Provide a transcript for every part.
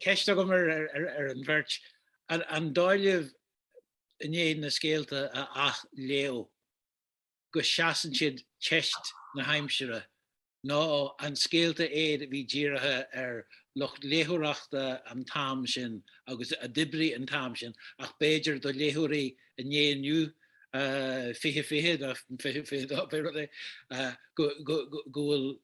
Ceist agamsa ar an bheirt, an dóigh libh i ndiaidh na scéalta a athléamh go seasann siad teist na haimsire nó an scéalta iad a bhí dírithe ar lucht léitheoireachta an t-am sin agus a d'oibrigh an t-am sin ach b'fhéidir do léitheoirí an lae inniu, 2020 nó 2022 pé rud é, go bhfuil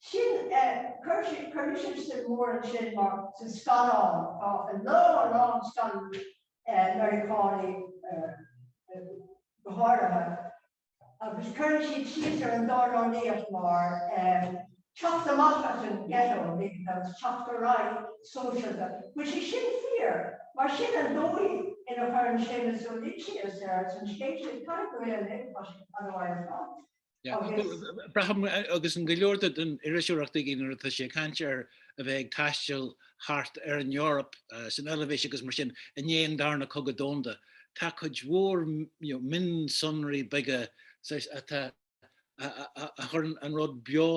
Sin é, chuir mise suim mhór ansin mar sna scannáin, tá a lán, a lán scannáin Meiriceánaí go háirithe, agus cuireann siad síos ar an dornálaíocht mar teacht amach as an ghetto agus teacht ar aghaidh sóisialta. Bhuel, sé sin fíor, mar sin an dóigh ina chuireann sé sin síos ar an scéal sin, caithfidh go bhfuil an léargas sin an-mhaith ar fad. Braithim agus tá go leor den iriseoireacht aige nuair atá sé ag caint ar a bheith ag taisteal thart ar an Eoraip san Eilbhéis agus mar sin i ndiaidh an Darna Cogadh Domhanda tá cuid mhór mionsonraí beaga a chuireann an rud beo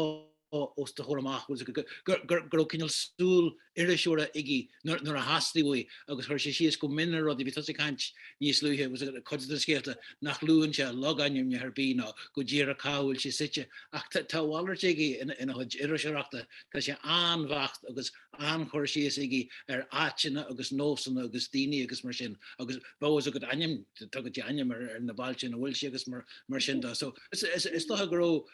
os do chomhair amach go raibh cineál súil iriseora aige nuair a theastaigh uaidh agus chuir sé síos go mion ar rudaí, bhí tusa ag caint níos luaithe faoi cuid de na scéalta nach luann sé logainmneacha ar bith ná go díreach cá bhfuil sé suite ach tá a mhalairt aige ina chuid iriseoireachta, tá sé an-bheacht agus an-chur síos aige ar áiteanna agus nósanna agus daoine agus mar sin agus bheadh fhios agat ainm, tugann sé ainm ar na bailte ina bhfuil sé agus mar sin de so is dócha go raibh.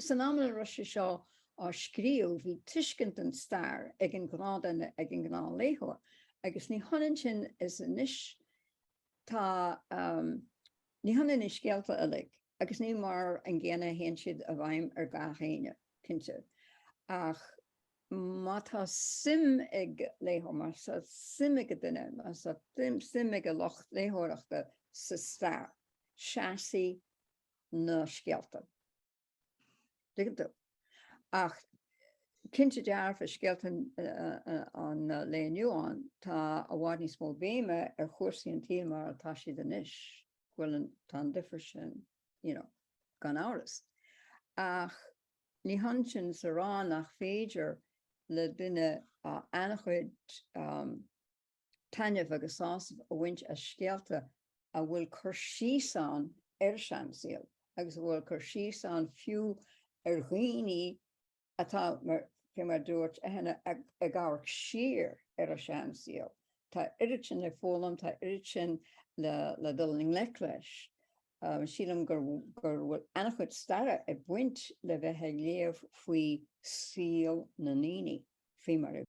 San am ina raibh sé seo á scríobh, bhí tuiscint den stair ag an ghnáthduine, ag an ngnáthléitheoir, agus ní hionann sin is anois. Tá, ní hionann na scéalta uilig agus ní mar an gcéanna a théann siad i bhfeidhm ar gach éinne, cinnte, ach má tá suim ag léitheoir, má tá suim ag an duine, má tá suim ag an lucht léitheoireachta sa stair, seasfaidh na scéalta. Ach cinnte dearfa scéalta an lae inniu, tá i bhfad níos mó béime ar chúrsaí an tsaoil mar atá siad anois, go bhfuil an, tá an difear sin, you know, gan amhras. Ach ní hionann sin is a rá nach féidir le duine an-chuid, taitneamh agus sásamh a bhaint as scéalta a bhfuil cur síos ann ar a seansaol agus a bhfuil cur síos ann fiú ar dhaoine atá, fé mar a dúirt Eithne, ag amharc siar ar a seansaol. Tá oiread sin le foghlaim, tá oiread sin le dul i ngleic leis. Sílim go bhfuil an-chuid staire ag baint le bheith ag léamh faoi saol na ndaoine fé mar a bhí.